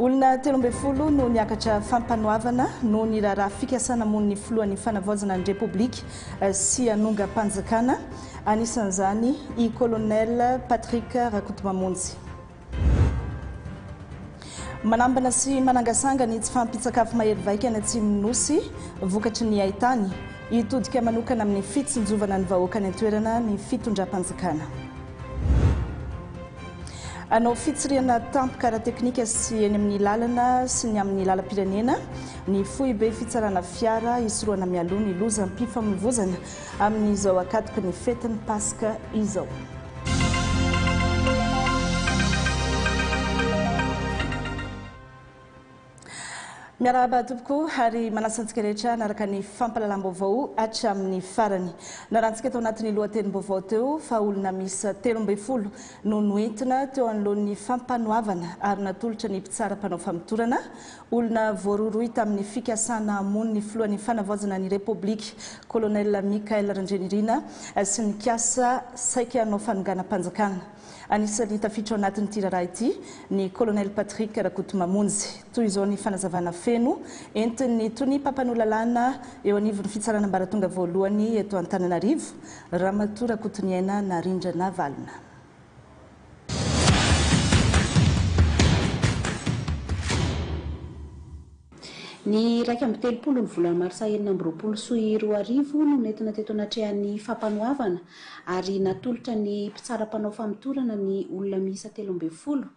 Olona telo ambin'ny folo no niakatra fampanoavana noho ny raharaha fikasana hamono ny filohan'ny fanavaozana ny Repoblika eh, sy hanongam-panjakana, anisan'izany i Colonel Patrick Rakotomamonjy. Manambana sy manangasanga ny tsy fahampian-tsakafo mahery vaika any atsimon'ny Nosy, vokatry ny haitany. Hitodika manokana amin'ny fitsinjovana ny vahoaka any an-toerana ny fitondram-panjakana. Hanao fitsirihana tampoka ara-teknika sy eny amin'ny lalana sy ny amin'ny lalam-pirenena ny foibe fitsarana fiara hisorohana mialoha ny lozam-pifamoivoizana amin'izao ankatoky ny fetin'ny Paska izao. Miarahaba tompoko ary manasa antsika rehetra hanaraka ny fampalalam-baovao hatramin'ny farany. Narantsika tao anatin'ny lohatenim-baovao teo fa olona miisa telo ambin'ny folo no noentina teo anoloan'ny fampanoavana ary natolotra ny mpitsara mpanao famotorana, olona voarohirohy tamin'ny fikasana hamono ny filohan'ny fanavaozana ny Repoblika, Colonel Michael Randrianirina sy nikasa saika hanao fanonganam-panjakana. Anisan'ny tafiditra ao anatin'ity raharaha ity ny Colonel Patrick Rakotomamonjy. Toy izao ny fanazavana feno entin'ny tonia mpampanoa lalàna eo anivon'ny fitsarana ambaratonga voalohany eto Antananarivo, Ramatoa Rakotoniaina Narindra-Navalona. Ny iraika amby telopolo ny volana marsa enina amby roapolo sy roa arivo no nentina teto anatrehan'ny fampanoavana ary natolotra ny mpitsara mpanao famotorana ny olona miisa telo ambin'ny folo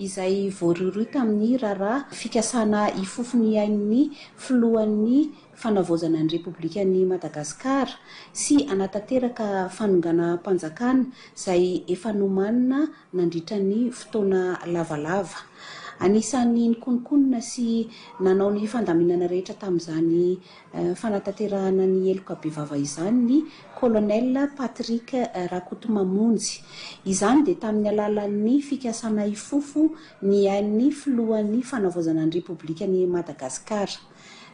izay voarohirohy tamin'ny raharaha fikasana hifofo ny ain'ny filohan'ny fanavaozana ny Repoblikan'i Madagasikara sy hanatanteraka fanonganam-panjakana izay efa nomanina nandritra ny fotoana lavalava. Anisan'ny nikononkonona sy nanao ny fandaminana rehetra tamin'izany fanatanterahana ny heloka bevava izany ny Colonel Patrick Rakotomamonjy. Izany dia tamin'ny alalan'ny fikasana hifofo ny ain'ny Filohan'ny Fanavaozana ny Repoblikan'i Madagasikara.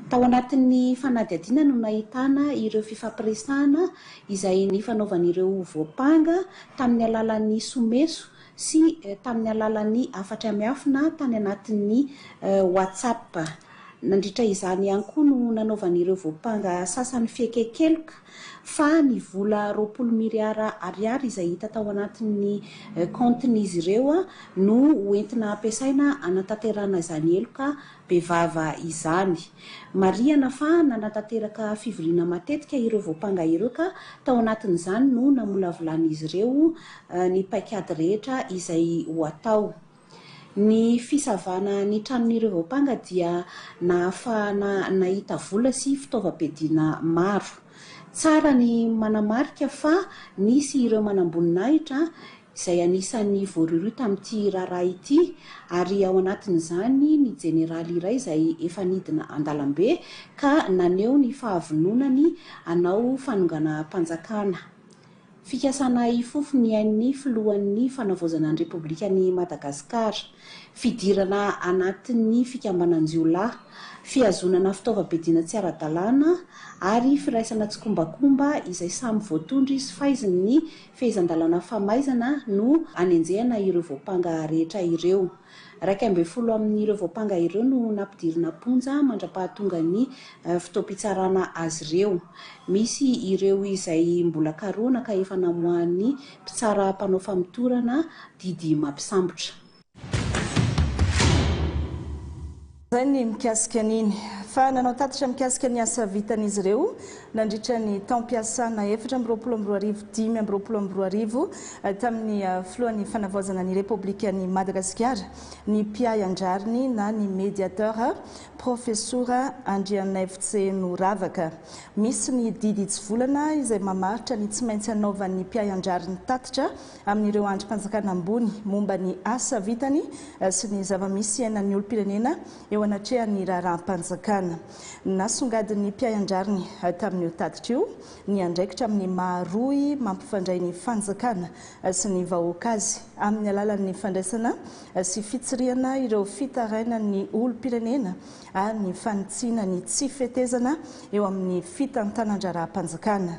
Tao anatin'ny fanadihadiana no nahitana ireo fifampiresahana izay nifanaovan'ireo voampanga tamin'ny alalan'ny someso sy tamin'ny alalan'ny hafatra miafina tany anatin'ny WhatsApp. Nandritra izany ihany koa no nanaovan'ireo voampanga sasany fiekenkeloka fa ny vola roapolo miriara ariary izay hita tao anatin'ny kaontin'izy ireo no hoentina hampiasaina hanatanterahana izany heloka Bevava izany. Marihana fa nanatanteraka fivoriana matetika ireo voampanga ireo ka tao anatin'izany no namolavolan'izy ireo ny paikady rehetra izay ho atao. Ny fisavana ny tranon'ireo voampanga dia nahafahana nahita vola sy fitaovam-piadiana maro. Tsara ny manamarika fa nisy ireo manamboninahitra izay anisan'ny voarohirohy tamin'ity raharaha ity ary ao anatin'izany ny jeneraly iray izay efa nidina an-dalambe ka naneho ny fahavononany hanao fanonganam-panjakana. Fikasana hifofo ny ain'ny filohan'ny fanavaozana ny Repoblikan'i Madagasikara. Fidirana anatin'ny fikambanan-jiolahy, fihazonana fitaovam-piadiana tsy ara-dalàna ary firaisana tsikombakomba izay samy voatondro izy faizin'ny Fehezan-dalàna famaizana no anenjehana ireo voampanga rehetra ireo. Iraika ambin'ny folo amin'ireo voampanga ireo no nampidirina am-ponja mandra-pahatongan'ny fotoam-pitsarana azy ireo. Misy ireo izay mbola karohina ka efa namoahan'ny mpitsara mpanao famotorana didy mampisambotra. Izay ny mikasika an'iny. Fa nanao tatitra mikasika ny asa vitan'izy ireo nandritra ny taom-piasana efatra amby roapolo amby roa arivo dimy amby roapolo amby roa arivo eh, tamin'ny eh, filohan'ny fanavaozana ny Repoblikan'i Madagasikara ny mpiahy an-drariny na ny médiateur Profesora Andrianaivotse Noravaka. Misy ny didy hitsivolana izay mamaritra ny tsy maintsy anaovan'ny mpiahy an-drariny tatitra amin'ireo andrim-panjakana ambony momba ny asa vitany sy ny zava-misy iainan'ny olom-pirenena eo anatrehan'ny raharaham-panjakana. Nasongadin'ny mpiahy an-drariny tamin'io tatitra io ny andraikitra amin'ny maha rohy mampifandray ny fanjakana sy ny vahoaka azy amin'ny alalan'ny fandraisana sy fitsirihana ireo fitarainan'ny olom-pirenena ary ny fanitsiana ny tsy fetezana eo amin'ny fitantanan-draharaham-panjakana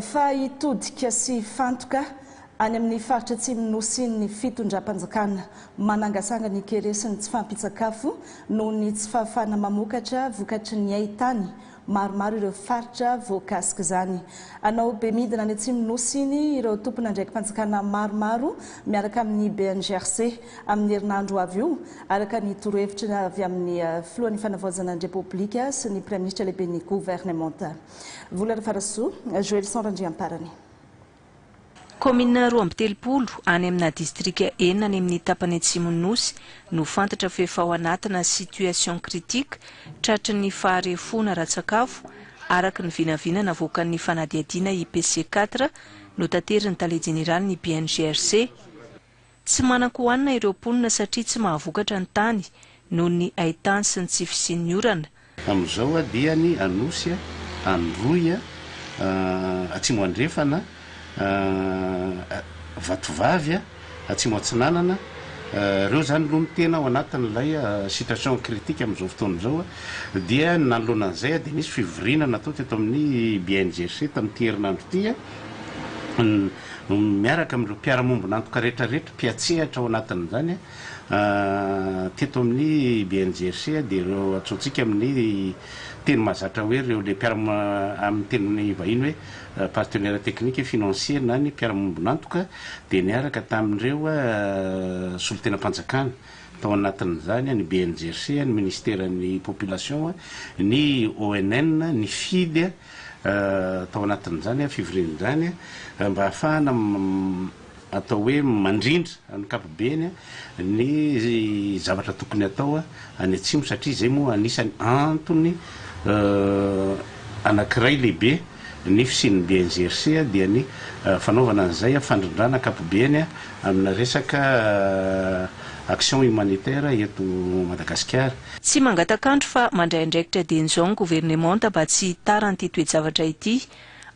Fa hitodika sy hifantoka any amin'ny faritra atsimon'ny Nosy ny fitondram-panjakana. Manangasanga ny kere sy ny tsy fahampian-tsakafo noho ny tsy fahafahana mamokatra vokatry ny hain-tany. Maromaro ireo faritra voakasik'izany. Hanao be midina any atsimon'ny Nosy iny ireo tompon'andraiki-panjakana maromaro miaraka amin'ny BNGRC. amin'ny herinandro ho avy io, araka ny torohevitry ny avy amin'ny Filohan'ny Fanavaozana ny Repoblika sy ny Praiminisitra Lehiben'ny Governemanta. Vola Rafarasoa, Joelison Randriamparany. Kaominina roa amby telopolo any amina distrika enina any amin'ny tapany atsimon'ny Nosy no fantatra fa efa ao anatina situation critique tratry ny faharefoana ara-tsakafo, araka ny vinavina navoakan'ny fanadihadiana IPC quatre notaterin'ny Tale Jeneralin'ny BNGRC. Tsy manan-kohanina ireo mponina satria tsy mahavokatra ny tany noho ny haitany sy ny tsy fisian'ny orana. Amin'izao dia ny Anosy, Androy, Atsimo Andrefana, Vatovavy, Atsimo Atsinanana, ireo izany aloha no tena ao anatin'ilay situation critique amin'izao fotoana izao. Dia ny nanoloana an'izay dia nisy fivoriana natao teto amin'ny BNGC tamin'ity herinandro ity. miaraka amin'ireo mpiara-miombon'antoka rehetra rehetra mpiatsehatra ao anatin'izany teto amin'ny BNGRC dia ireo antsointsika amin'ny teny mahazatra hoe ireo ilay mpiara amin'ny teny vahiny hoe partenaire technique financier na ny mpiara-miombon'antoka dia niaraka tamin'ireo solontenam-panjakana tao anatin'izany ny BNGRC, ny ministeran'ny population, ny ONN, ny FIDE, tao anatin'izany fivoriana izany mba ahafahana atao hoe mandrindra ankapobeny ny zavatra tokony atao any Atsimo satria izay moa anisany antony anankiray lehibe ny fisian'ny BNGRC dia ny fanaovana an'izay fandrindrana ankapobeny amina resaka action humanitaire eto Madagasikara. Tsy mangataka andro fa mandray andraikitra dieny izao ny governemanta mba tsy hitaran'ity toe-javatra ity.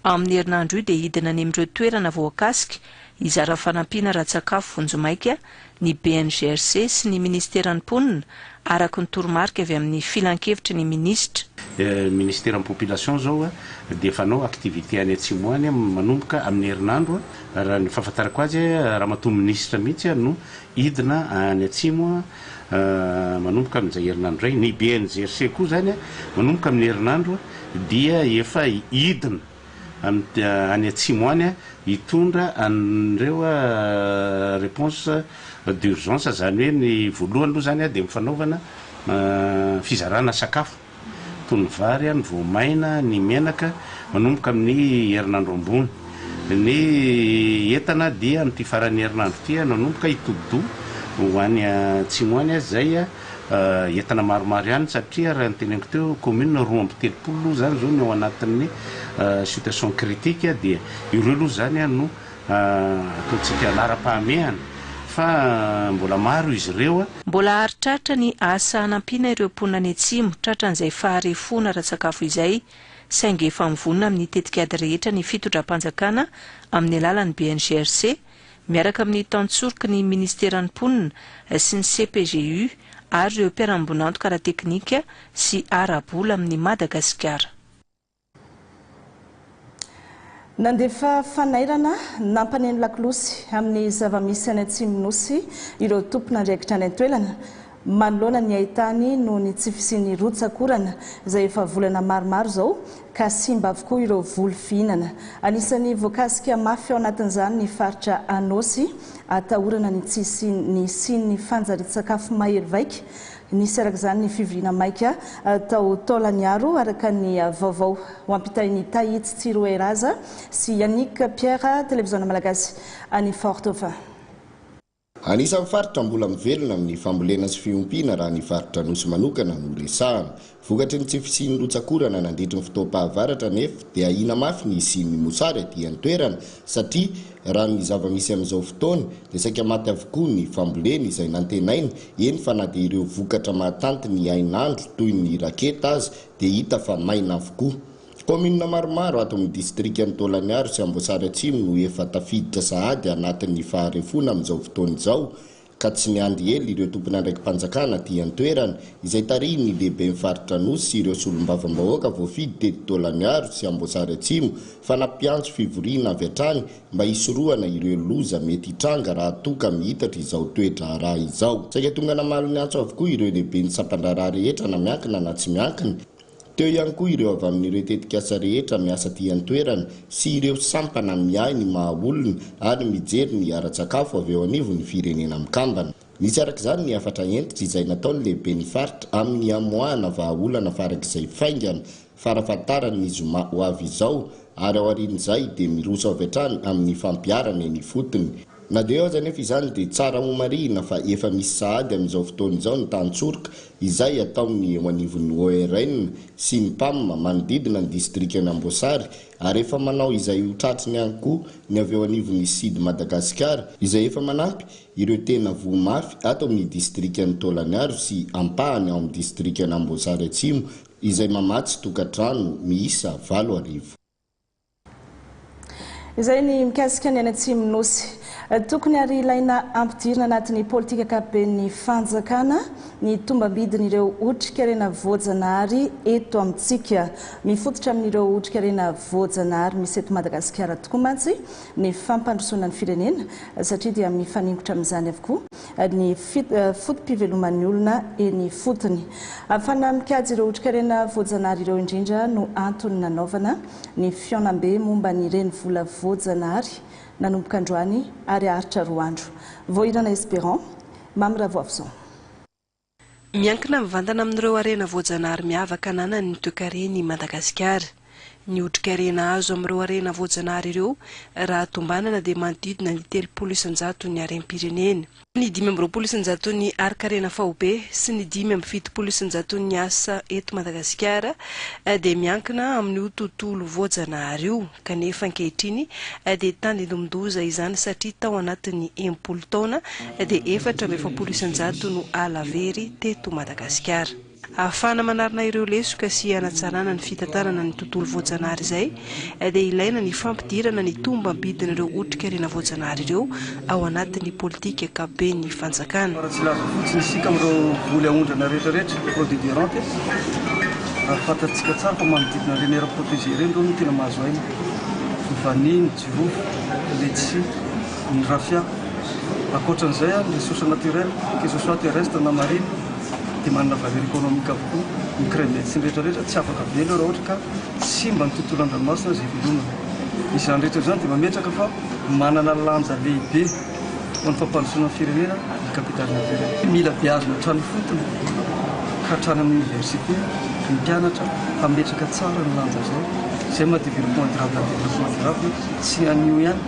Amin'ny herinandro io dia hidina any amin'ireo toerana voakasika hizara fanampiana ara-tsakafo vonjimaika ny BNGRC sy ny minisiteran'ny Mponina, araka ny toromarika avy amin'ny Filankevitry ny minisitra. Minisiteran'ny Population izao dia efa hanao activité any Atsimo any manomboka amin'ny herinandro, raha ny fahafantarako azy, Ramatoa minisitra mihitsy no Hidina any atsimo manomboka amin'izay herinandro izay. Ny BNGRC koa izany manomboka amin'ny herinandro dia efa hidina any atsimo any hitondra an'ireo réponse d'urgence izany hoe ny voalohany aloha izany dia ny fanaovana fizarana sakafo. Toy ny vary ny voamaina, ny menaka, manomboka amin'ny herinandro ambony. Ny entana dia amin'ity faran'ny herinandro ity no hanomboka hitodi-doha ho any atsimo any aza izay. Entana maromaro ihany satria raha ny teneniko teo, commune roa amby telopolo aloha izany izao no ao anatin'ny situation critique dia ireo aloha izany no Ataontsika laharam-pahamehana fa mbola maro izy ireo. Mbola haritraritra ny asa hanampiana ireo mponina any Atsimo tratran'izay faharefoana ara-tsakafo izay, saingy efa mivonona amin'ny tetikady rehetra ny fitondram-panjakana amin'ny alalan'ny BNGRC miaraka amin'ny tantsoroky ny minisiteran'ny Mponina sy ny CPGU ary ireo mpiara-miombon'antoka ara-teknika sy ara-bola amin'i Madagasikara. Nandefa fanairana nampaneno lakolosy amin'ny zava-misy any Atsimon'ny Nosy ireo tompon'andraikitra any an-toerana manoloana ny haitany noho ny tsy fisian'ny rotsak'orana izay efa volana maromaro izao ka simba avokoa ireo voly fihinana. Anisan'ny voakasika mafy ao anatin'izany ny faritra Anôsy atahorana ny tsy hisian'ny fanjarian-tsakafo mahery vaika Nisy araka izany ny fivoriana maika tao Taolagnaro, araka ny vaovao ho ampitain'i Tahitsy Tsiroeraza sy Yannick Pierre, Televiziona Malagasy any Fort Dauphin. Anisan'ny faritra mbola mivelona amin'ny fambolena sy fiompiana raha ny faritra Anosy manokana no resahana. Vokatry ny tsy fisian'ny rotsak'orana nandritry ny fotoam-pahavaratra nef dia ahiana mafy ny hisian'ny mosary aty an-toerana satria raha ny zava-misy amin'izao fotoana dia saika maty avokoa ny famboleny izay nantenaina, eny fa na dia ireo vokatra mahatanty ny hainandro toy ny raketa aza dia hita fa maina avokoa. Kaominina maromaro ato amin'ny distrikan'i Taolagnaro sy Amboasary Atsimo no efa tafiditra sahady anatin'ny faharefoana amin'izao fotoana izao ka tsy miandry ela ireo tompon'andraiki-panjakana aty an-toerana, izay tarihin'ny lehiben'ny faritra Anosy sy ireo solombavambahoaka voafidy teto Taolagnaro sy Amboasary Atsimo, fa nampiantso fivoriana avy hatrany mba hisorohana ireo loza mety hitranga raha toa ka mihitatra izao toe-draharaha izao. Saika tonga namaly ny antso avokoa ireo lehiben'ny sampan-draharaha rehetra na miankina na tsy miankina, Teo ihany koa ireo avy amin'ireo tetikasa rehetra miasa aty an-toerana sy ireo sampana miahy ny maha olona ary mijery ny ara-tsakafo avy eo anivon'ny Firenena Mikambana. Nisy araka izany ny hafatra hentitra izay nataon'ny lehiben'ny faritra amin'ny hamoahana vahaolana farak'izay faingana farafahatarany ny zoma ho avy izao ary aorian'izay dia miroso avy hatrany amin'ny fampiharana eny ifotony Na dia eo aza anefa izany dia tsara homarihina fa efa misy sahady amin'izao fotoana izao ny tantsoroka izay ataon'ny eo anivon'ny ORN sy ny Pam manodidina ny distrikan'Amboasary ary efa manao izay ho tratriny ihany koa ny avy eo anivon'ny Sid Madagasikara izay efa manampy ireo tena voa mafy ato amin'ny distrikan'i Taolagnaro sy ampahany ao amin'ny distrikan'Amboasary Atsimo izay mamatsy tokantrano miisa valo arivo. Izay ny mikasika ny any Atsimon'ny Nosy. Tokony ary ilaina ampidirina anatin'ny politika ankapoben'ny fanjakana ny tombambidin'ireo otrikarena voajanahary eto amintsika. Mifototra amin'ireo otrikarena voajanahary misy eto Madagasikara tokoa mantsy ny fampandrosoana ny firenena satria dia mifaningotra amin'izany avokoa ny foto-piveloman'ny olona eny ifotony. Afana mikajy ireo otrikarena voajanahary ireo indrindra no antony nanaovana ny fihaonambe momba ny renivola voajanahary nanomboka androany ary haharitra roa andro. Voahirana Esperant, Mamy Ravoavison. Miankina mivantana amin'ireo harena voajanahary miavaka ananan'ny toekarena i Madagasikara. Ny otrikarena azo amin'ireo harena voajanahary ireo raha tombanana dia manodidina ny telopolo isanjaton'ny harem-pirenena, ny dimy amby roapolo isanjaton'ny harin-karena faobe sy ny dimy amby fitopolo isanjaton'ny asa eto Madagasikara dia miankina amin'io tontolo voajanahary io. kanefa ankehitriny dia tandindomin-doza izany satria tao anatin'ny enimpolo taona dia efatra amby efapolo isan-jato no ala very teto Madagasikara. Ahafahana manarina ireo lesoka sy hanatsarana ny fitantanana ny tontolo voajanahary izay dia ilaina ny fampidirana ny tombam-bidin'ireo otrikarena voajanahary ireo, ao anatin'ny politika ankapoben'ny fanjakana. Raha tsy laza fotsiny isika amin'ireo voly aondrana rehetrarehetra, fraude et déronte, ary fantatsika tsara fa manodidina ireny aires protégées ireny ireo no tena mahazo aina, ny vanille, ny jirofo, ny letchi, ny raffia. Ankoatra an'izay, ny ressources naturelles, que ce soit terrestre na marine, dia manana valeur économique avokoa. Ny crevettes sy ny rehetrarehetra tsy afaka avela eo raha ohatra ka simba ny tontolo an-dranomasina izay velominy. Izany rehetra izany dia mametraka fa. Manana lanja lehibe ho an'ny fampandrosoana ny firenena ny kapitaly natirely. Mila beazina hatrany fotony ka hatrany amin'ny oniversite ny mpianatra hametraka tsara ny lanja izay, izay maha developpement durable an'ny developpement durable sy anio ihany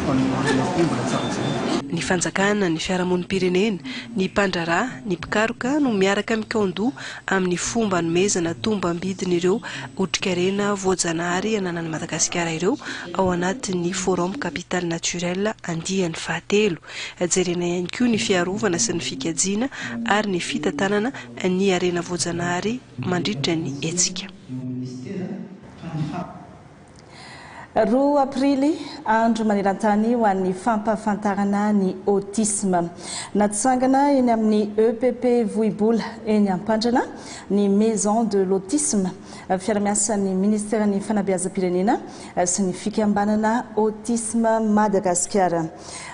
fa ny olona koa mbola tsara jerena. Ny fanjakana, ny fiarahamonim-pirenena, ny mpandraharaha, ny mpikaroka no miaraka mikaon-doha amin'ny fomba anomezana tombam-bidin'ireo otrikarena voajanahary ananan'i Madagasikara ireo ao anatin'ny Forum Capital Naturel andiany fahatelo. Jerena ihany koa ny fiarovana sy ny fikajiana ary ny fitantanana ny harena voajanahary mandritra ny hetsika. Roa aprily, andro maneran-tany ho an'ny fampahafantarana ny autisme. Natsangana eny amin'ny EPP Vohibola, eny Ampandrana, ny Maison de l'autisme, fiara-miasan'ny Ministeran'ny Fanabeazam-pirenena sy ny Fikambanana Autisme Madagasikara.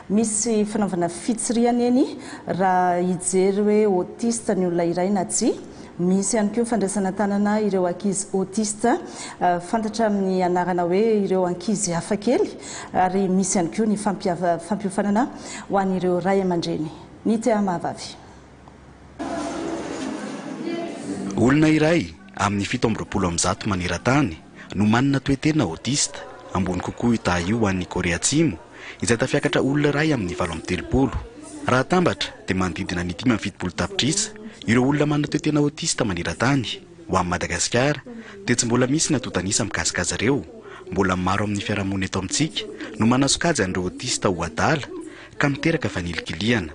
Misy fanaovana fitsirihana eny raha hijery hoe autiste ny olona iray na tsia. Misy ihany koa fandraisana tanana ireo ankizy autiste, fantatra amin'ny anarana hoe ireo ankizy hafakely, ary misy ihany koa ny fampiofanana ho an'ireo ray aman-dreny ny tea mahavavy. Olona iray amin'ny fito amby roapolo amin'ny zato maneran-tany no manana toe-tena autiste ambony kokoa io taha io ho an'ny Korea Atsimo, izay tafiakatra olona iray amin'ny valo amby telopolo. Raha atambatra, dia manodidina ny dimy amby fitopolo tapitrisa ireo olona manana toe-tena autiste maneran-tany. Ho an'i Madagasikara, dia tsy mbola misy ny antontan'isa mikasika azy ireo. Mbola maro amin'ny fiarahamonina eto amintsika no manasokajy an'ireo autiste ho adala, ka miteraka fanilikilihana.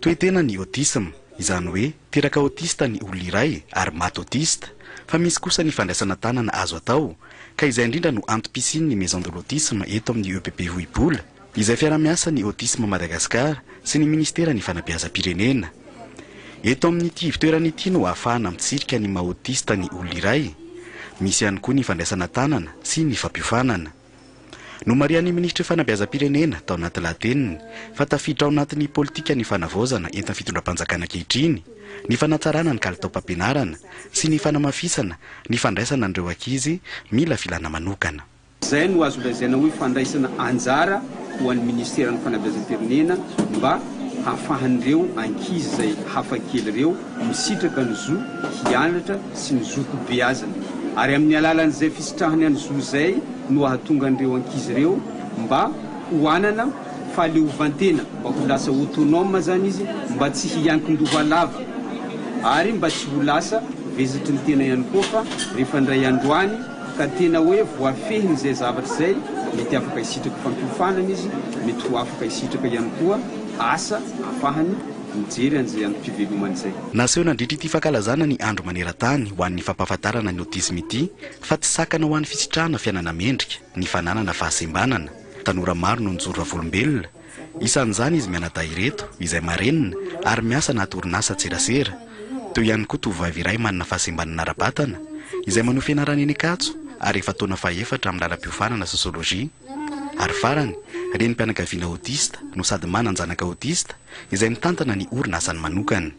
Toe-tena ny autisme, izany hoe teraka autiste ny olona iray ary maty autiste, fa misy kosa ny fandraisana tanana azo atao, ka izay indrindra no antom-pisian' ny Maison de l'autisme eto amin' ny EPP Vohibola, izay fiarahamiasan' ny Autisme Madagascar sy ny Minisiteran' ny Fanabeazam-pirenena. Eto amin' ity ivotoerana ity no ahafahana mitsirika ny maha-autiste ny olona iray. Misy ihany koa ny fandraisana tanana sy ny fampiofanana. Nomarihan'ny Minisitry Fanabeazam-pirenena tao anaty lahateniny fa tafiditra ao anatin'ny politikan'ny fanavaozana entin'ny fitondram-panjakana ankehitriny ny fanatsarana ny kalitaom-pampianarana sy ny fanamafisana ny fandraisana an'ireo ankizy mila filàna manokana. Izay no azo lazaina hoe fandraisana anjara ho an'ny Minisiteran'ny Fanabeazam-pirenena mba hahafahan'ireo ankizy izay hafakely ireo Misitraka ny zo hianatra sy ny zo ho beazina ary amin'ny alalan'izay fisitrahany an'i zo izay no ahatonga an'ireo ankizy ireo mba ho hanana fahaleovantena mba ho lasa autonome zany izy mba tsy hiankin-doha lava ary mba tsy ho lasa vezatry ny tena ihany koa fa rehefa indray andro any ka tena hoe voafehin'izay zavatra izay mety afaka hisitraka fampiofanana izy mety ho afaka hisitraka ihany koa asa afahany mijery an'izay amim-pivelomany izay. Naseho nandritra ity fankalazana ny andro maneran-tany ho an'ny fampahafantarana ny autisme ity fa tsy sakana ho an'ny fisitrahana fiainana mendrika ny fananana fahasembanana. Tanora maro no nijoro vavolombelona, isan'izany izy mianadahy ireto izay marenina ary miasa anaty orinasa an-tserasera. Teo ihany koa tovovavy iray manana fahasembanana ara-batana izay manohy fianarana eny Ankatso ary efa taona fahefatra amin'ny lalam-piofanana sosiolojia. Ary farany, renim-pianakaviana autiste no sady manan-janaka autiste izay mitantana ny orinasany manokana.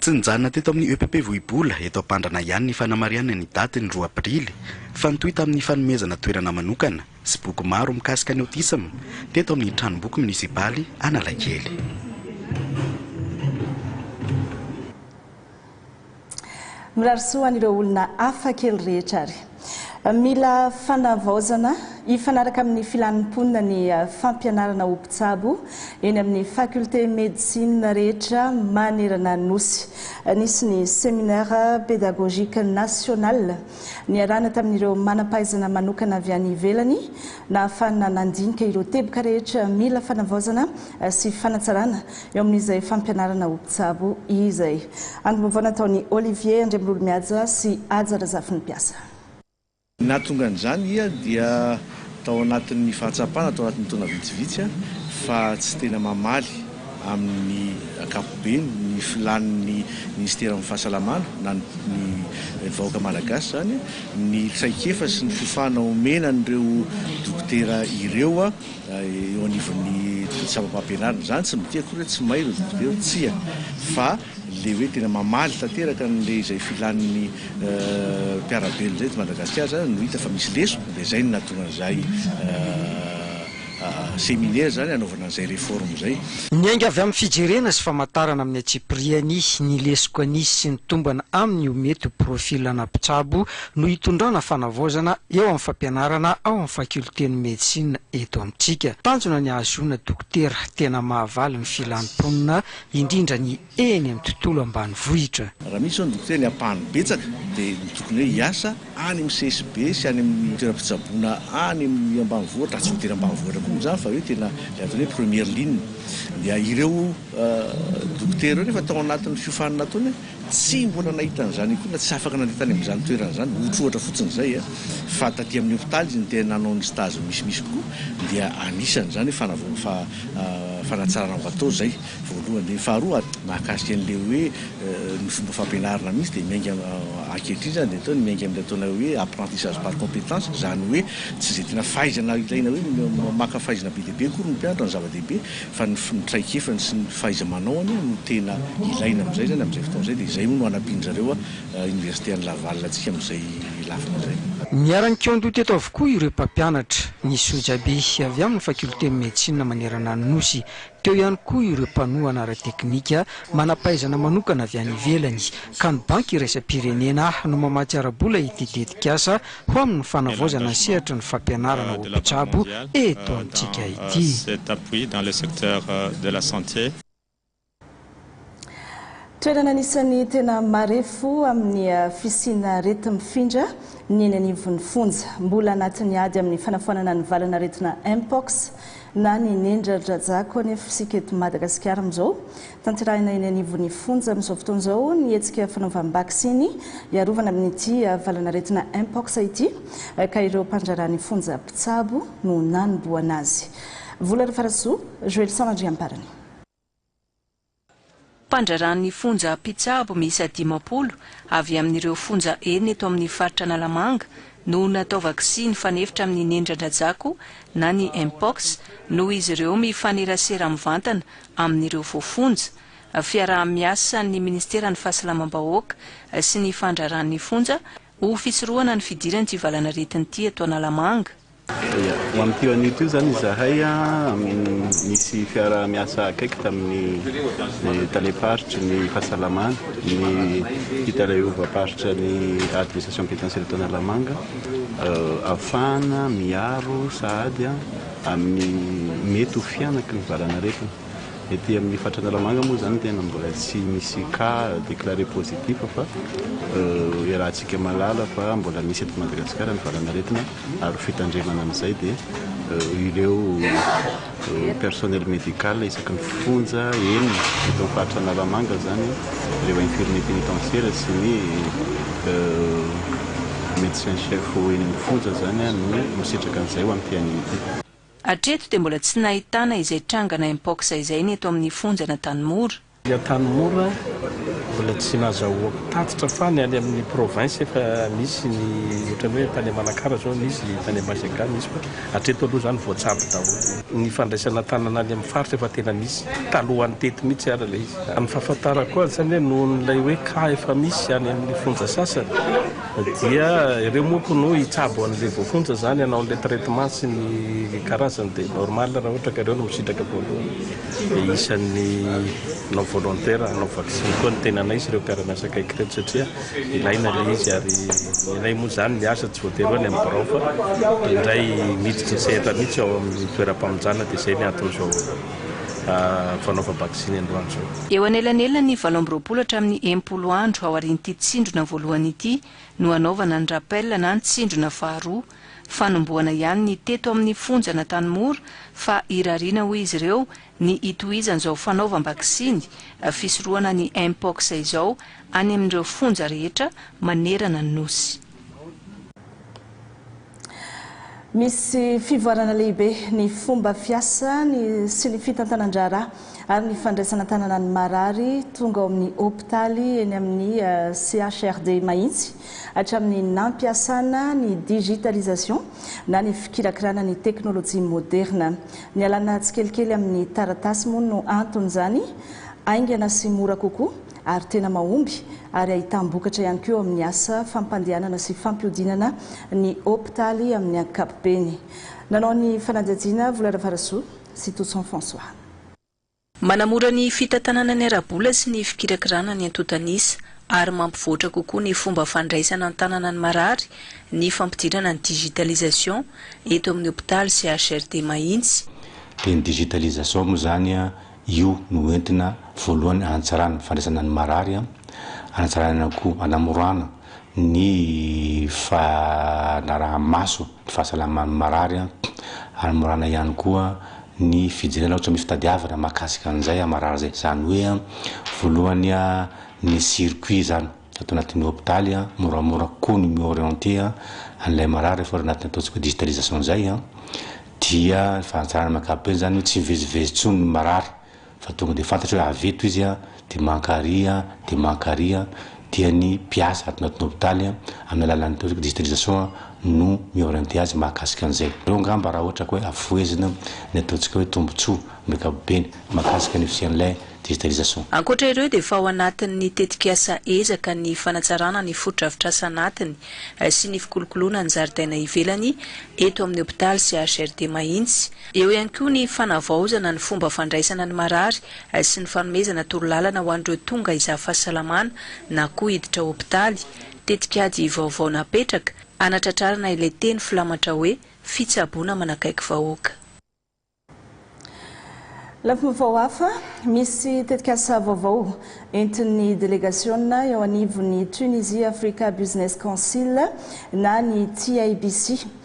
Tsy nijanona teto amin'ny EPP Vohibola eto Ampandrana ihany ny fanamarihanay ny daty ny roa aprily fa nitohy tamin'ny fanomezana toerana manokana sy boky maro mikasika ny autisme teto amin'ny Tranomboky Munisipaly Analakely. Mirary soa an'ireo olona hafa kely rehetra ary. Mila fanavaozana hifanaraka amin'ny filan'ny mponina ny fampianarana ho mpitsabo eny amin'ny faculté médecine rehetra manerana Nosy. Nisy ny séminaire pédagogique national niarahana tamin'ireo manam-pahaizana manokana avy any ivelany nahafahana nandinika ireo teboka rehetra mila fanavaozana sy fanatsarana Eo amin'izay fampianarana ho mpitsabo izay. Andro vaovao nataon'i Olivier Andriamilolomihaja sy Haja Razafinimpiasa. Nahatonga an'izany ia dia tao anatin'ny fahatsapana tao anatin'ny taona vitsivitsy fa tsy tena mamaly amin'ny ankapobeny ny filàn'ny Minisiteran'ny Fahasalamana na ny vahoaka Malagasy izany ny traikefa sy ny fofana omena an'ireo dokotera ireo eo anivon'ny sampa-pampianarana izany tsy midika akory hoe tsy may ireo zaza ireo, tsia, fa ilay hoe tena mamaly tanteraka an'ilay izay filan'ny mpiara-belona izay eto Madagasikara izany no hita fa misy lesona dia izay no nahatonga an'izay seminaire izany hanaovana an'izay réforme izay. Miainga avy amin'ny fijerena sy famantarana amin'ny antsipiriany ny lesoka nisy sy ny tombana amin'ny ho mety ho profil ana mpitsabo no hitondrana fanavaozana eo amin'ny fampianarana ao amin'ny fakiolten'ny medisina eto amintsika. Tanjona ny hahazoana dokotera tena mahavaly ny filan'ny mponina, indrindra ny eny amin'ny tontolo ambanivohitra. Raha misy izao ny dokotera ny ampahany betsaka dia ny tokony hoe hiasa any amin'ny CSB sy any amin'ny toeram-pitsaboana any amin'ny ambanivohitra, raha tsy voatery ambanivohitra koa moa izany fa hoe tena ilay atao hoe première ligne. Dia ireo dokotera ireo nefa tao anatin'ny fiofanana ataony. Tsy mbola nahita an'izany akory na tsy afaka nandeha tany amin'izany toerana izany, ohatrohatra fotsiny izay a. Fa taty amin'ny hopitaly izy no tena nanao ny stage misimisy kokoa, dia anisan'izany hoe fanavao, fa fanatsarana ho atao izay, voalohany. Dia ny faharoa, mahakasika an'ilay hoe ny fomba fampianarana mihitsy, dia miainga ankehitriny izany dia atao ny miainga amin'ilay ataonay hoe apprentissage par compétence, izany hoe tsy izay tena fahaizana ilaina hoe maka fahaizana be dia be akory ny mpianatra no zava-dehibe, fa ny ny traikefany sy ny fahaiza-manaony no tena ilaina amin'izay izany, amin'izay fotoana izay, dia izay hono no hanampian-dry zareo Oniversite an'i Laval antsika amin'izay lafiny izay. Niara-nikaondoha teto avokoa ireo mpampianatra, ny sojabe avy amin'ny Faculté Medecine manerana ny Nosy, teo ihany koa ireo mpanohana ara-teknika, manam-pahaizana manokana avy any ivelany, ka ny Banky iraisam-pirenena no mamatsy ara-bola ity tetikasa ho amin'ny fanavaozana ny sehatry ny fampianarana ho mpitsabo eto amintsika ity. Toerana anisan'ny tena marefo amin'ny fisiana arety mifindra ny eny anivon'ny fonja. Mbola anatin'ny ady amin'ny fanafoanana ny valan'aretina Mpox na ny nendran-dRajako anefa isika eto Madagasikara amin'izao. Tanterahina eny anivon'ny fonja amin'izao fotoana izao ny hetsika fanaovam-baksiny hiarovana amin'ity valan'aretina Mpox ity ka ireo mpandraharaha ny fonja mpitsabo no nanombohana azy. Vola Rafarasoa, Joelison Andriamparany. Mpandraharaha ny fonja mpitsabo miisa dimampolo avy amin'ireo fonja enina eto amin'ny faritra Analamanga no natao vaksiny fanefitra amin'ny nendradrajako na ny Mpox noho izy ireo mifanerasera mivantana amin'ireo voafonja, fiaraha-miasan'ny Ministeran'ny Fahasalamam-bahoaka sy ny Fandraharahan'ny Fonja ho fisorohana ny fidiran'ity valanaretina ity eto Analamanga. Ia, ho amin'itio anio itio izany izahay nisy fiaraha-miasa akaiky tamin'ny Talem-paritry ny Fahasalamana, ny Talaiovam-paritra ny Administration Penitentiaire eto Analamanga, ahafahana miaro sahady Amin'ny mety ho fihanaky ny valan'aretina. Ety amin'ny faritra Analamanga moa izany tena mbola tsy misy cas déclaré positif fa iarahantsika mahalala fa mbola misy eto Madagasikara ny valan'aretina ary ho fitandremana amin'izay dia ireo personnel médical isaky ny fonja enina eto amin'ny faritra Analamanga izany ireo infirmiers pénitentiaires sy ny Médecin chef eny amin'ny fonja zany no misitraka an'izay ho an'ity anio ity. Hatreto dia mbola tsy nahitana izay trangana Mpox izay ny eto amin'ny fonjan'Antanimora. Ny Antanimora mbola tsy nazahoako tatitra fa ny any amin'ny province efa misy ny ohatran'ny hoe tany Manakara zao misy, tany Ambasy Ankala misy fa Hatreto aloha izany voatsabo daholo ny fandraisana tanana any amin'ny faritra efa tena misy talohan'ny teto mihitsy ary ilay izy. Raha ny fahafantarako azy izany hoe nohon'ilay hoe cas efa misy any amin'ny fonja sasany dia ireo monko no hitsabo an'ilay voafonja izany hanao an'ilay traitement sy ny karazany dia normal raha ohatra ka ireo no misitraka voalohany dia isan'ny non volontaire hanao vaksiny koa ny tenanay sy ireo mpiara-miasa akaiky ireto satria Ilaina ilay izy ary ilay moa izany miasa tsy voatery hoe any amin'ny birao fa indray miditra ny sehatra mihitsy ao amin'ny toeram-pamonjana dia izay ny anton'izao fanaovam-baksiny androany izao. Eo anelanelan'ny valo amby roapolo hatramin'ny enimpolo andro aorian'ity tsindrona voalohany ity no hanaovana ny rappel na ny tsindrona faharoa. Fanombohana ihany ny teto amin'ny fonja an'Antanimora fa irariana hoy izy ireo ny hitohizan'izao fanaovam-baksiny fisorohana ny Mpox izao any amin'ireo fonja rehetra manerana ny Nosy. Misy fivoarana lehibe ny fomba fiasa sy ny fitantanan-draharaha ary ny fandraisana an-tanana ny marary tonga ao amin'ny hopitaly eny amin'ny CHRD Mahitsy hatramin'ny nampiasana ny digitalisation na ny fikirakirana ny teknolojia moderina. Nialana tsikelikely amin'ny taratasy moa no anton'izany, haingana sy mora kokoa ary tena mahomby ary ahitam-bokatra ihany koa eo amin'ny asa fampandehanana sy fampihodinana ny hopitaly amin'ny ankapobeny. Nanao ny fanadihadiana Vola Ravarasoa sy Toson François. Manamora ny fitantanana ny ara-bola sy ny fikirakirana ny antontan'isa ary mampivoatra kokoa ny fomba fandraisana an-tanana ny marary ny fampidirana ny digitalisation eto amin'ny hopitaly sy HRD Mahitsy. Dia ny digitalisation moa izany, io no hoentina voalohany hanatsarana ny fandraisana ny marary, hanatsarana ihany koa, hanamorana ny fanaraha-maso ny fahasalaman'ny marary, hanamorana ihany koa ny fijerena ohatra ny fitadiavana mahakasika an'izay marary izay, izany hoe voalohany ny circuit izany ato anatin'ny hopitaly, moramora kokoa ny mi-orienter an'ilay marary rehefa ao anatin'ny ataontsika digitalisation izay dia ny fahatsarana amin'ny ankapobeny izany hoe tsy mivezivezy intsony ny marary. fa tonga dia fantatra hoe avy eto izy dia maka àry dia maka àry dia ny mpiasa ato anatin'ny hopitaly amin'ny alalan'ny hoe digitalisation no mi-orienter azy mahakasika an'izay. Ireo angamba raha ohatra ka hoe afohezina ny ataontsika hoe tombontsoa amin'ny ankapobeny mahakasika ny fisian'ilay digitalisation. Ankoatra ireo dia efa ao anatin'ny tetikasa ezaka ny fanatsarana ny fotodrafitrasa anatiny sy ny fikolokoloana ny zaridaina ivelany eto amin'ny hopitaly sy HRD Mahitsy, Eo ihany koa ny fanavaozana ny fomba fandraisana ny marary sy ny fanomezana torolalana ho an'ireo tonga izaha fahasalamana na koa hiditra hopitaly, tetikady vaovao napetraka hanatratrarana ilay teny filamatra hoe Fitsaboana manakaiky vahoaka. Lafim-baovao hafa, Misy tetikasa vaovao entin'ny delegasiona eo anivon'ny Tunisia Africa Business Council na ny TABC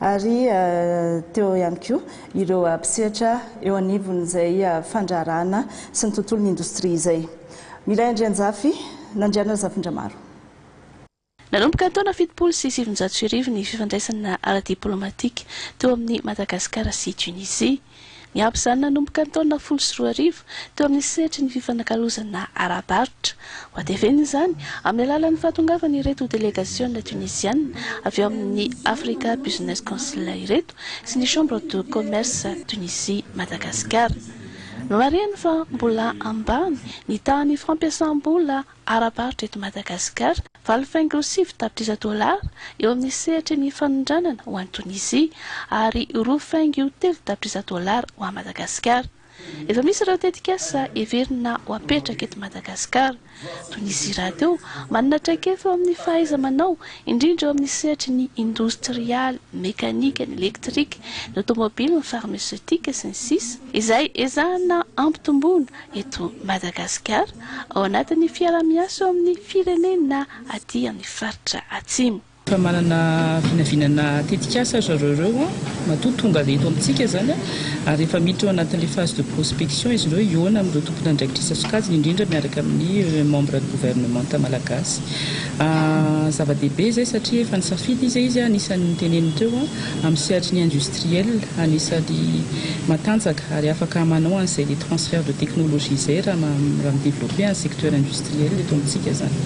ary teo ihany koa ireo mpisehatra eo anivon'izay fandraharahana sy ny tontolon'ny indostria izay. Milay Andrianjafy, Nandriana Razafindramaro. Nanomboka ny taona fitopolo sy sivinjato sy arivo ny fifandraisana ara-diplaomatika teo amin'i Madagasikara sy Tunisie. Niampy izany nanomboka ny taona folo sy roa arivo teo amin'ny sehatry ny fifanakalozana ara-barotra. Hohatevena izany amin'ny alalan'ny fahatongavan'ireto delegasiona Tuniziana avy ao amin'ny Africa Business Council ireto sy ny Chambre de Commerce Tunisie-Madagasikara. Nomarihany fa mbola ambany ny tahan'ny fampiasam-bola ara-barotra eto Madagasikara, valo faingo sivy tapitrisa dolara eo amin'ny sehatry ny fanondranana ho any Tonizia ary roa faingo telo tapitrisa dolara ho any Madagasikara. Efa misy ireo tetikasa heverina ho apetraka eto Madagasikara. Tonizia rahateo manana traikefa eo amin'ny fahaiza-manao, indrindra eo amin'ny sehatry ny indostrialy, ny mekanika, ny elektrika, ny aotomobily, ny farmeseutika, sy ny sisa, izay ezahana hampitomboana eto Madagasikara ao anatin'ny fiaraha-miasa eo amin'ny firenena aty amin'ny faritra Atsimo. Efa manana vinavinana tetikasa ry zareo ireo, matoa tonga eto amintsika izany ary efa miditra ao anatin'ilay phase de prospection izy ireo hihaona amin'ireo tompon'andraikitrisa sokajiny indrindra miaraka amin'ny membres gouvernementa malagasy. Zava-dehibe izay satria efa nisafidy izy, anisan'ny noteneniny teo. amin'ny sehatry ny industriel anisany matanjaka ary afaka manao an'izay le transfert de technologie izay raha raha mi-developper ny secteur industriel eto amintsika izany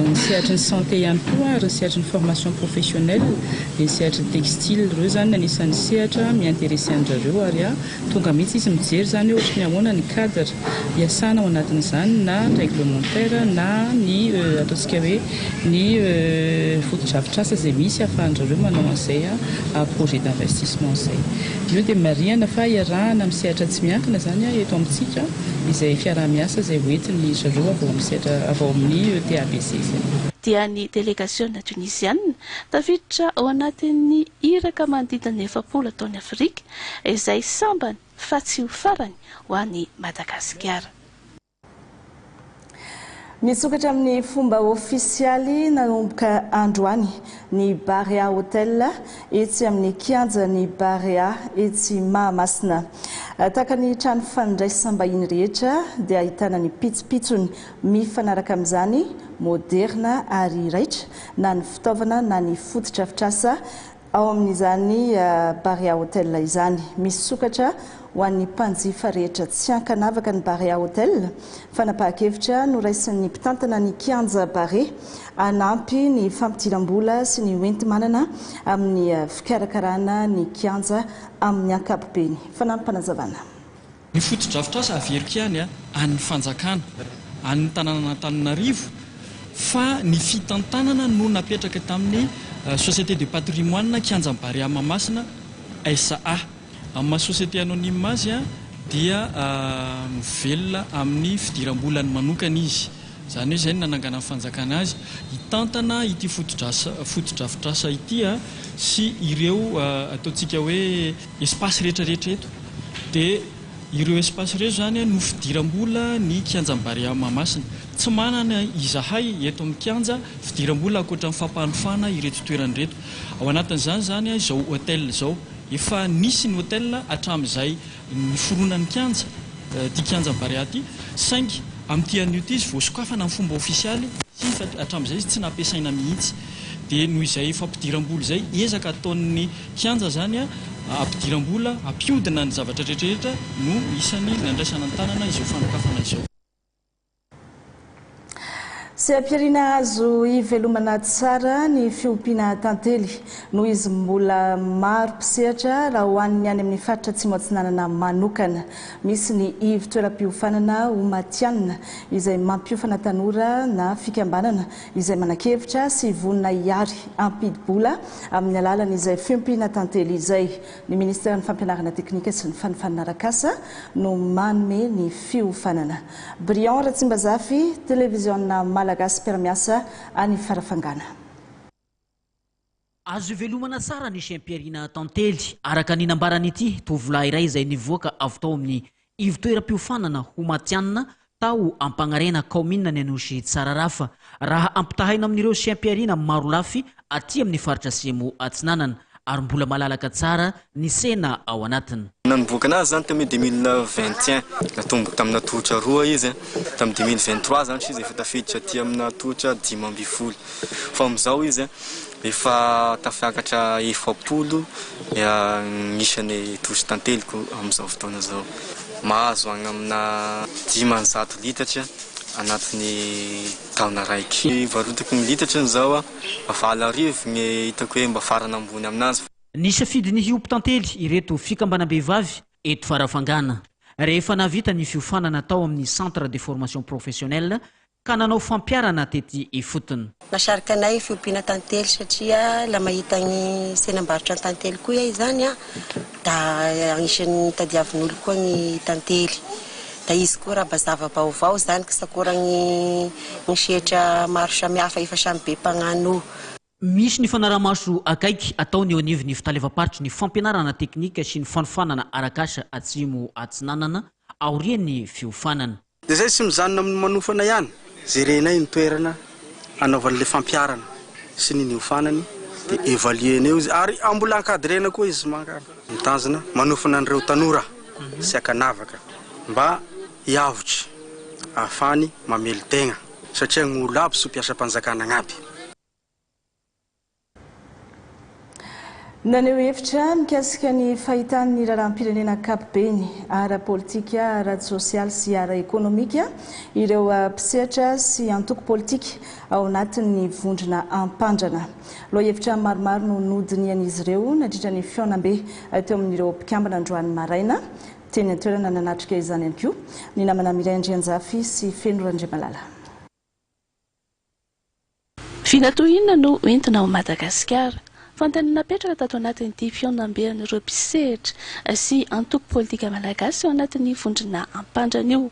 ny sehatry ny santé ihany koa ary ny sehatry ny formation professionnelle dia ny sehatry ny textile ireo izany anisan'ny sehatra mi-interesser an-dry zareo ary Tonga mihitsy izy mijery izany hoe ohatry ny ahoana ny cadre iasana ao anatin'izany na réglementaire na ny ataontsika hoe ny fotodrafitrasa izay misy ahafahan-dry zareo manao an'izay projet d'investissement izay. Io dia marihana fa iarahana amin'ny sehatra tsy miankina izany eto amintsika izay fiaraha-miasa izay hoentin'dry zareo avy ao amin'ny sehatra, avy ao amin'ny TABC izay. dia ny delegasiona Tuniziana tafiditra ao anatin'ny iraka manodidina ny efapolo ataon'i Afrika izay sambany fa tsy ho farany ho an'i Madagasikara. Misokatra amin'ny fomba ofisialy nanomboka androany ny Barea Hotel etsy amin'ny kianjan'ny Barea etsy Mahamasina. Tahaka ny trano fandraisam-bahiny rehetra dia ahitana ny pitsopitsony mifanaraka amin'izany, moderina ary raitra na ny fitaovana na ny fotodrafitrasa Ao amin'izany Barea Hotel izany, misy sokatra ho an'ny mpanjifa rehetra. Tsy an-kanavaka ny Barea Hotel. Fanapahan-kevitra noraisin'ny mpitantana ny kianja Barea hanampy ny fampidiram-bola sy ny hoenti-manana amin'ny fikarakarana ny kianja amin'ny ankapobeny. Fanampim-panazavana. Ny fotodrafitrasa averiko ihany an'ny fanjakana, an'ny tanànan'Antananarivo fa ny fitantanana no napetraka tamin'ny Société de Patrimoine Kianjan'i Barea Mahamasina SA. Amin'ny maha société anonyme azy dia mivelona amin'ny fidiram-bolany manokana izy. Izany hoe izay no nananganan'ny fanjakana azy hitantana ity fotodrafitrasa ity sy ireo ataontsika hoe. Espace rehetra rehetra eto dia ireo espace ireo izany no fidiram-bola ny kianjan'i Barea Mahamasina. Tsy manana izahay eto amin'ny kianja fidiram-bola ankoatra ny fampanofana ireto toerana ireto. Ao anatin'izany izany izao hotel izao. Efa nisy ny hotel hatramin'izay niforonan'ny kianja, ity kianjan'i Barea ity, saingy amin'ity anio ity izy vao sokafana amin'ny fomba ofisialy sy hatramin'izay izy tsy nampiasaina mihitsy. Dia noho izay fampidiram-bola izay ezaka ataon'ny Kianja izany hampidiram-bola, hampihodina ny zavatra rehetrarehetra no isan'ny nandraisana an-tanana izao fanokafana izao. Seha-pihariana azo ivelomana tsara ny fiompiana tantely noho izy mbola maro mpisehatra raha ho an'ny any amin'ny faritra Atsimo Atsinanana manokana. Misy ny ivo-toeram-piofanana ho matihanina izay mampiofana tanora na fikambanana izay manan-kevitra sy vonona hiary hampidi-bola amin'ny alalan'izay fiompiana tantely izay. Ny Ministeran'ny Fampianarana Teknika sy ny Fanofanana Arak'asa no manome ny fiofanana. Brian Ratsimbazafy, Televiziona Malagasy mpiara-miasa any Farafangana. Azo ivelomana tsara ny shem-pihariana Tantely, araka ny nambaran'ity tovolahy iray izay nivoaka avy tao amin'ny ivotoeram-piofanana ho matihanina tao Ampagnarena, kaominina ny Anosy Tsararafa, raha ampitahaina amin'ireo shem-pihariana marolafy aty amin'ny faritra Atsimo Atsinanana, ary mbola malalaka tsara ny sena ao anatiny. Nanomboka nazy izany tamin'ny deux mille vingt et un, natomboka tamina tohotra roa izy, tamin'ny deux mille vingt trois izany izy efa tafiditra aty amina tohotra dimy ambin'ny folo fa amin'izao izy efa tafiakatra efapolo ny isany tohotra tanteliko amin'izao fotoana izao, mahazo any amina dimanjato litatra anatin'ny taona raiky. Ny varotako ny litatrany izao valo arivo ny hitako hoe mba farany ambony aminazy. Nisafidy ny hiompy tantely ireto fikambanam-behivavy eto Farafangana, rehefa nahavita ny fiofanana tao amin'ny Centre de Formation Professionnelle ka nanao fampiharana tety ifotony. Mahasarika anay ny fiompiana tantely satria la mahita ny tsenam-barotra an-tantely koa iay izany an, da agnisan'ny tadiavin'olo koa ny tantely. Da izy koa raba zava-baovao izany ksakoragny ny sehtra maro samihafa efa samy be mpagnano. Misy ny fanarahamaso akaiky ataony eo anivon'ny Fitalevam-paritry ny Fampianarana Teknika sy ny Fanofanana Arak'asa Atsimo Atsinanana aorian'ny fiofanana. Dia izay tsy mijanona amin'ny manofana ihany, jerenay ny toerana hanaovany ilay fampiharana sy ny niofanany dia evaluer-na eo izy ary mbola encadrer-na koa izy mankany. Mitazona manofana an'ireo tanora sy ankanavaka mba hiavotry ahafahany mamely tegna. satria gny olo aby sy mpiasam-panjakana agnaby. Naneho hevitra mikasika ny fahitany ny raharaham-pirenena ankapobeny, ara-politika, ara-tsosialy sy ara-ekonomika, ireo mpisehatra sy antoko politika ao anatin'ny vondrona Ampandrana. Lohahevitra maromaro no nodinihan'izy ireo nandritra ny fihaonambe teo amin'ireo mpikambana androany maraina. Teny an-toerana nanatrika izany ihany koa ny namana Mireille Andrianjafy sy Feno Randriamalala. Vina toy inona no entina ao Madagasikara? Fanontaniana napetraka tato anatin'ity fihaonambe an'ireo mpisehatra sy antoko politika malagasy ao anatin'ny vondrona Ampandrana io.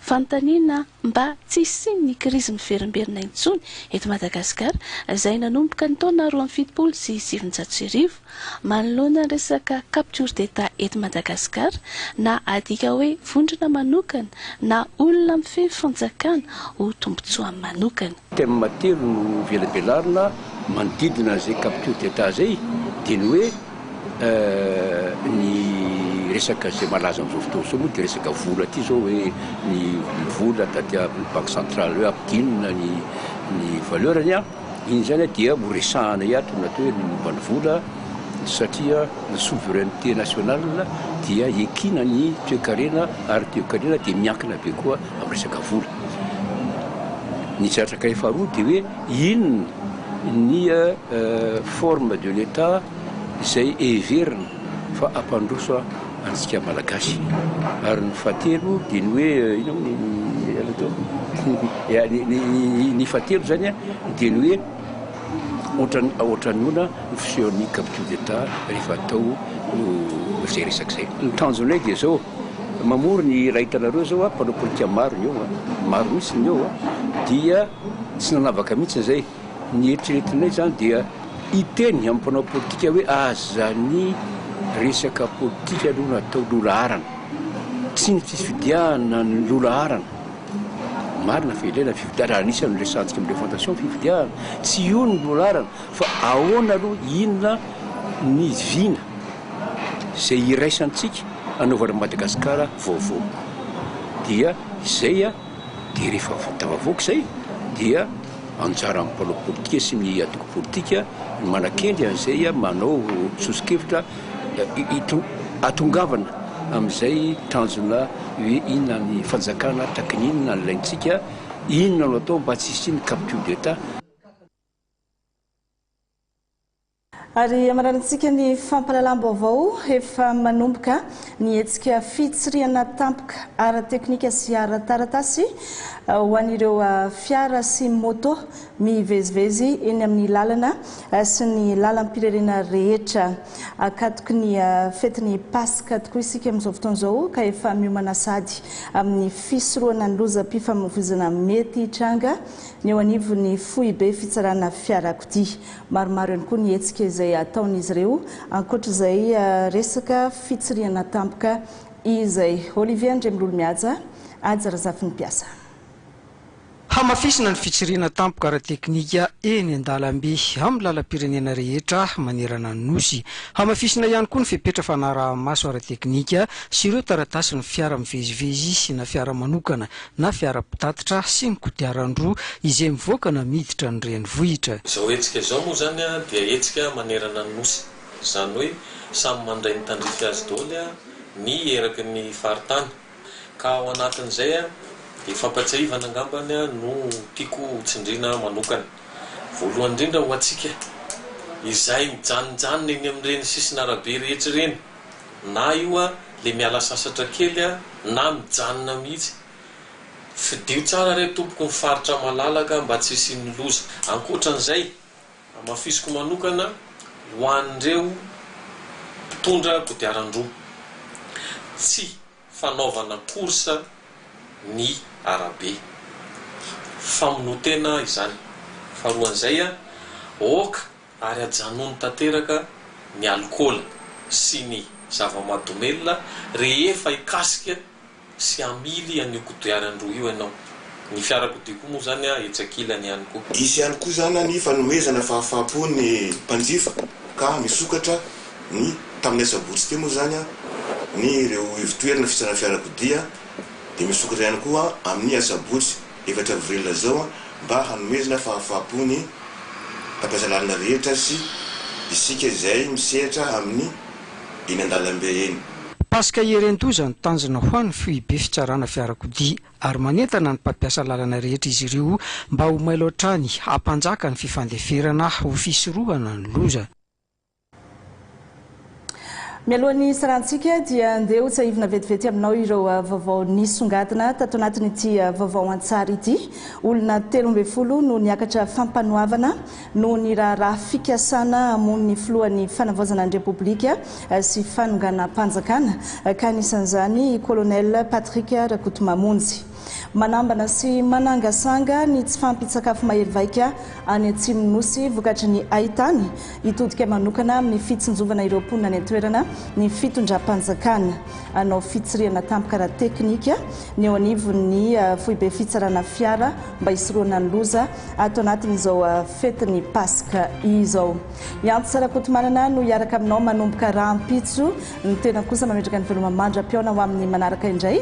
Fanontaniana. mba tsy hisian'ny krizy miverimberina intsony eto Madagasikara, izay nanomboka ny taona roa amby fitopolo sy sivinjato sy arivo. Manoloana ny resaka capture d'Etat eto Madagasikara, na adika hoe vondrona manokana na olona mifehy fanjakana ho tombontsoany manokana. Thème telo no velabelarina manodidina izay capture d'Etat izay, dia ny hoe. Ny resaka izay malaza amin'izao fotoana izao moa dia resaka vola ity izao hoe ny vola taty amin'ny banky centrale hoe ampidinina ny ny valeur-ny an! Iny izany dia ho resahana eto ny atao hoe ny momba ny vola satria ny souveraineté nationale dia ekina ny toekarena ary toekarena dia miankina be koa amin'ny resaka vola. Ny zatra kay faharoa dia hoe. Inona ny forme de l'Etat izay heverina fa hampandroso antsika Malagasy? Ary ny fahatelo dia ny hoe inona moa ny ela teo? ny fahatelo izany dia ny hoe ohatran'ny ahoana ny fisehon'ny capture d'Etat rehefa atao izay resaka izay? Ny tanjonay dia izao, mamory ny iray hitanareo izao mpanao politika maro ny eo, maro mihitsy ny eo dia. Tsy nanavaka mihitsy izay. Ny eritreretinay izany dia hiteny amin'ny mpanao politika hoe aza ny resaka politika aloha no atao loha laharana. Tsy ny fifidianana no loha laharana. Marina fa ilaina ny fifidianana, ary anisan'ny niresahantsika amin'ireo fondations ny fifidianana. Tsy io no loha laharana fa ahoana aloha, inona ny vina izay iraisantsika hanaovana Madagasikara vaovao. Dia izay. Dia rehefa vita vavoaka izay dia anjaran'ny mpanao politika sy ny antoko politika ny manakendry an'izay manao soso-kevitra hitongavana amin'izay tanjona hoe inona ny fanjakana, takin'ny inona no ilaintsika, inona no atao mba tsy hisian'ny capture d'Etat. Ary amaranintsika ny fampahalalam-baovao efa manomboka ny hetsika fitsirihana tampoka ara-teknika sy ara-taratasy ho an'ireo fiara sy moto mivezivezy eny amin'ny lalana sy ny lalam-pireirena rehetra. Akatoky ny fetin'ny Paska tokoa isika amin'izao fotoana izao ka efa miomana sady amin'ny fisorohana ny lozam-pifamoivoizana mety hitranga ny eo anivon'ny foibe fitsarana fiarakodia. Maromaro ihany koa ny hetsika izay ataon'izy ireo ankoatra izay resaka fitsirihana tampoka izay. Olivier Andriamilolomihaja, Haja Razafinimpiasa. Hamafisina ny fitsirihana tampoka ara-teknika eny an-dalambe amin'ny lalam-pirenena rehetra manerana ny Nosy. Hamafisina ihany koa ny fepetra fanaraha-maso ara-teknika sy ireo taratasin'ny fiara mivezivezy na fiara manokana na fiara-pitatitra sy ny kodiaran-droa izay mivoaka na miditra ny renivohitra. Izao hetsika izao moa izany dia hetsika manerana ny Nosy. Izany hoe samy mandray ny tandrify azy daholo ny eraky ny faritany. Ka ao anatin'izay dia fampatsiahivana angamba no tiako ho tsindriana manokana. Voalohany indrindra ho antsika izay mijanonjanona eny amin'ireny sisin'arabe rehetra ireny. na io a le miala sasatra kely a na mijanona mihitsy fidio tsara re tompoko ny faritra malalaka mba tsy hisian'ny loza ankoatran'izay hamafisiko manokana ho an'ireo mpitondra kodiaran-droa tsy fanaovana course ny arabe famonoan-tena izany faharoan'izay a ok ary ajanony tanteraka ny alikaola sy ny zava-mahadomelina rehefa hikasika sy hamily an'io kodiarany roa io ianao. Ny fiarakodia koa moa izany etsy ankilany ihany koa. Hisy ihany koa izany ny fanomezana fahafaham-po ny mpanjifa ka misokatra ny tamin'ny asabotsy teo moa izany ny ireo ivotoerana fitsarana fiarakodia dia misokatra ihany koa amin'ny asabotsy. efatra avril izao mba hanomezana fahafaham-po ny mpampiasa lalana rehetra sy isika izay misehatra amin'ny eny an-dalambe eny. Paska Ieren-doza ny tanjona ho an'ny Foibe Fitsarana Fiarakodia ary manentana ny mpampiasa lalana rehetra izy ireo mba ho mailo hatrany hampanjaka ny fifandeferana ho fisorohana ny loza. Mialoha ny hisarantsika dia andeha ho tsahivina vetivety aminao ireo vaovao nisongadina tato anatin'ity vaovao an-tsary ity. Olona telo ambin'ny folo no niakatra fampanoavana noho ny raharaha fikasana hamono ny filohan'ny fanavaozana ny Repoblika sy fanonganam-panjakana ka anisan'izany i Colonel Patrick Rakotomamonjy. Manambana sy manangasanga ny tsy fahampian-tsakafo mahery vaika any Atsimon'ny Nosy vokatry ny haitany. Hitodika manokana amin'ny fitsinjovana ireo mponina any an-toerana ny fitondram-panjakana. Hanao fitsirihana tampoka ara-teknika ny eo anivon'ny foibe fitsarana fiara mba hisorohana ny loza ato anatin'izao fetin'ny Paska izao. I Antsa Rakotomanana no hiaraka aminao manomboka rahampitso. Ny tenako kosa mametraka ny veloma mandra-pihaona ho amin'ny manaraka indray.